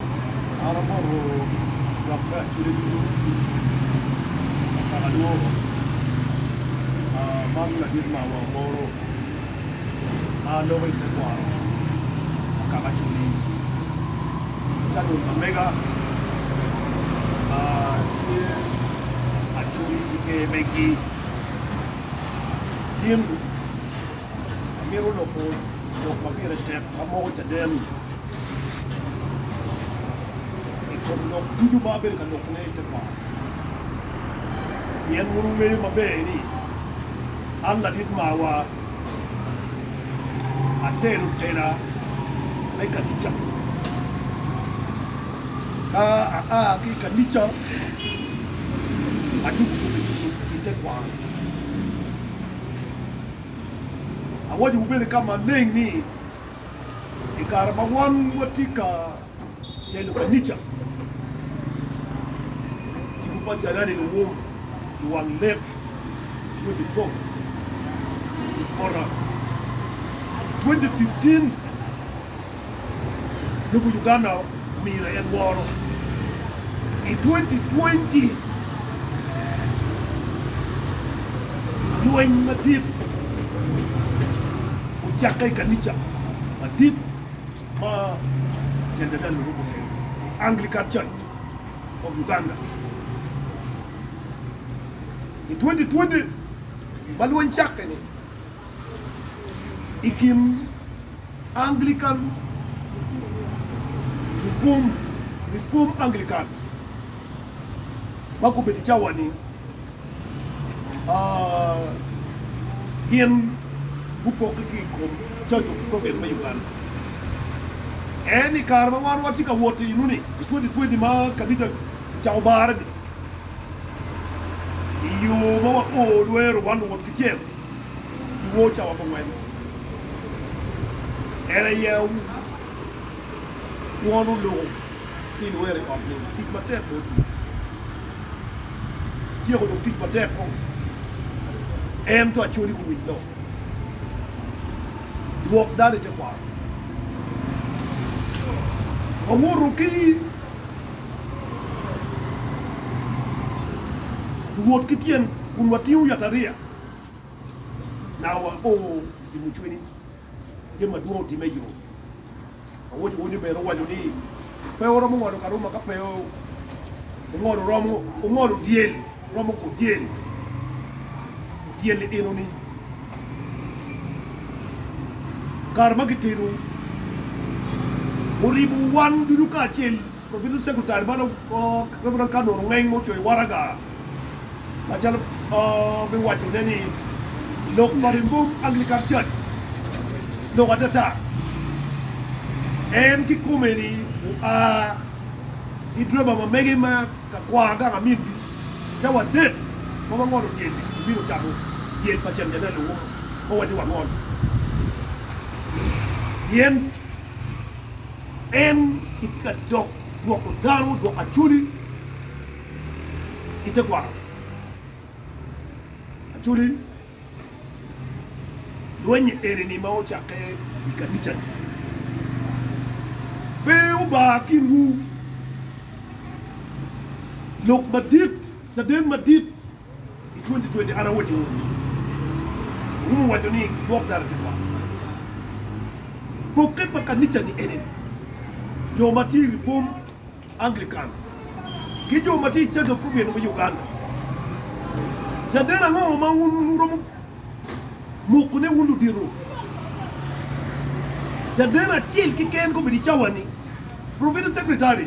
An amoko lok me acwiny ducu pa kaka alwoko man ladit mawa moro ma loko i tekwaro pa kaka acwiny. Canon pa mega tye acwiny ki ger megi. Latin amito loko lok ma pire tek ma moko caden. i kom lok ducu ma abedo ka lokone i tekwaro, pien wun wungeyo maber ni an ladit marwa atero tera me kanica. Ka aa ki i kanica, adwogo kome tir i tekwaro. Awacowu bene ka maleng ni, i kare ma wan watye ka telo kanica, Tipo pa Jalani luwom i wang lek me Bicop Oram, 2015 Lobo Uganda. omiyo en woro. I 2020, lweny madit ocakke i kanica madit ma Jenda Daniel oruko tenge, The Anglican Church of Uganda. I 2020 ma lweny cakke-ni, i kin Anglican Reformed Anglican ma gubedo i cawa-ni gin gupokke ki i kom Church of Prophets me Uganda. En i kare ma wan watye ka wot iyenu-ni, i 2020 ma kabita ocako bare-ni, i yo ma wapor lwero wan luwot kicel. two cawa ma weng en aye wono loko ni iwero i ot nining? Tic matek bene otiyo, ityeko dong tic matek kong ento acwali guwic do dwok dano i tekwaro wawoto ki wot ki tyen kun watingo yatariya. naka wapor i mucwi ni jami madwong otimme i yo. Awoco wun ni bene owaco ni pe wuromo ngolo karuma ka pe ungolo romo ungolo dyel romo ku dyel dyel ni eno ni kare ma gitedo wuribo wan ducu kacel Wabino cego tal bal Reverend ka nongo ngeny ma ocoyo waraga macalo me waco ne ni lok pa Rimbom Anglican Church lok atata. En ki kome ni oa ki driver ma mege ma ka kwar gang amin gi cawa adek ma wangolo dyel ni obino cako dyel pa ceng janelo ma waco wangol pien En gitye ka dok gwoko dano odoko Acholi i tekwaro. Acholi lwenye eni-ni ma ocakke i kanica-ni pe obar kinwu. Lok madit, caden madit. I twenti twenti an awaco wunu ni, Wurumo waco ni Lwak Dano tye kwar. Pokke pa kanica-ni eni ni, jo ma tye i Lipum Anglican ki jo ma tye i Church of Providence me Uganda, caden ango ma wun wuromo mokone wun ludito? Caden acel keken kobedo i cawa-ni, Provincial Secretary.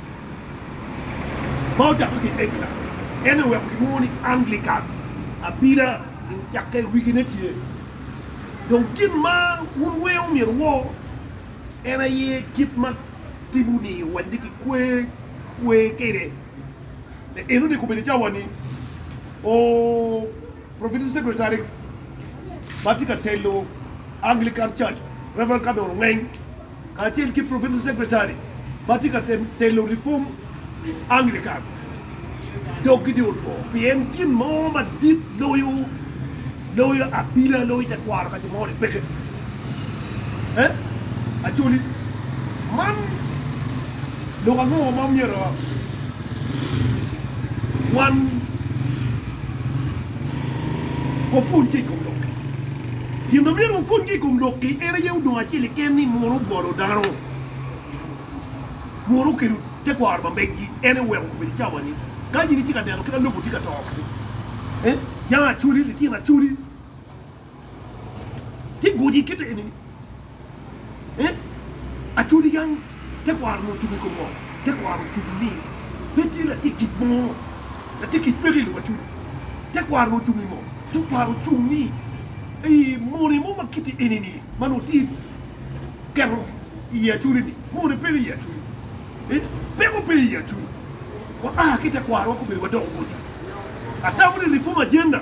ma ocakke ki i England, en aye oweko kilwongo ni Anglican abila i ocakke i wigine tye. Dong gin ma wun weng omyero wuwor en aye kit ma tipo-ni owaco ni kikwer kwe kwede. Pe enoni kobedi i cawa-ni, Provincial Secretary ma tye ka telo Anglican Church, Rev. Cardinal Ongeng, kacel ki Provincial Secretary ma tye ka telo Reform Anglican dog gitye otwo pien gin mo madit loyo loyo abila loyo tekwaro ka jo moni peke eh Acholi man lok ango ma myero wan wapwony ki i kom lok-ki? Gin ma myero wapuonye i kom lok-ki en aye odong acel keken ni munu ogolo dano, munu okelo tekwaro ma megi, en aye oweko kome licawani. Ka in itye ka neno kit ma lobo tye ka to kadi, yanga acwali, litino acwali tye gucci kite eni-ni. Ee, atodi yam tekwaro onongo ocubo i kom ngom. Tekwaro ocubo ni pe tye latic kic mo, latic kic mege i lobo acudo. Tekwaro onongo ocung i mo. Tekwaro ocung ni ei mone mo ma kite eni-ni ma nongo tye keto i i acudi-ni, mone pe i i acudi. Ee, peko pe i i acudi. Waa ki tekwaro weko obedo madongo boti. Atamo ni Reform Agenda.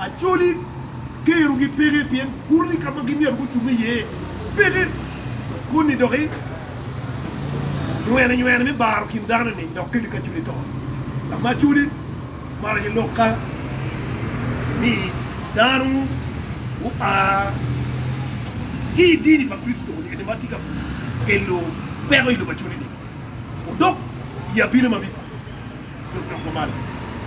Acholi kerogi peke pien kuro-ni ka ma gimyero gucung iye peke. Koni dok i nywenenywene me baro kin dano-ni dok keli kacoli to. Ka ma Acholi maro aye lok ka ni dano gua ki i dini pa Kricitoni ento ma tye ka kelo peko i lobo Acholi-ni odok i abino ma biko dok nok mamalo.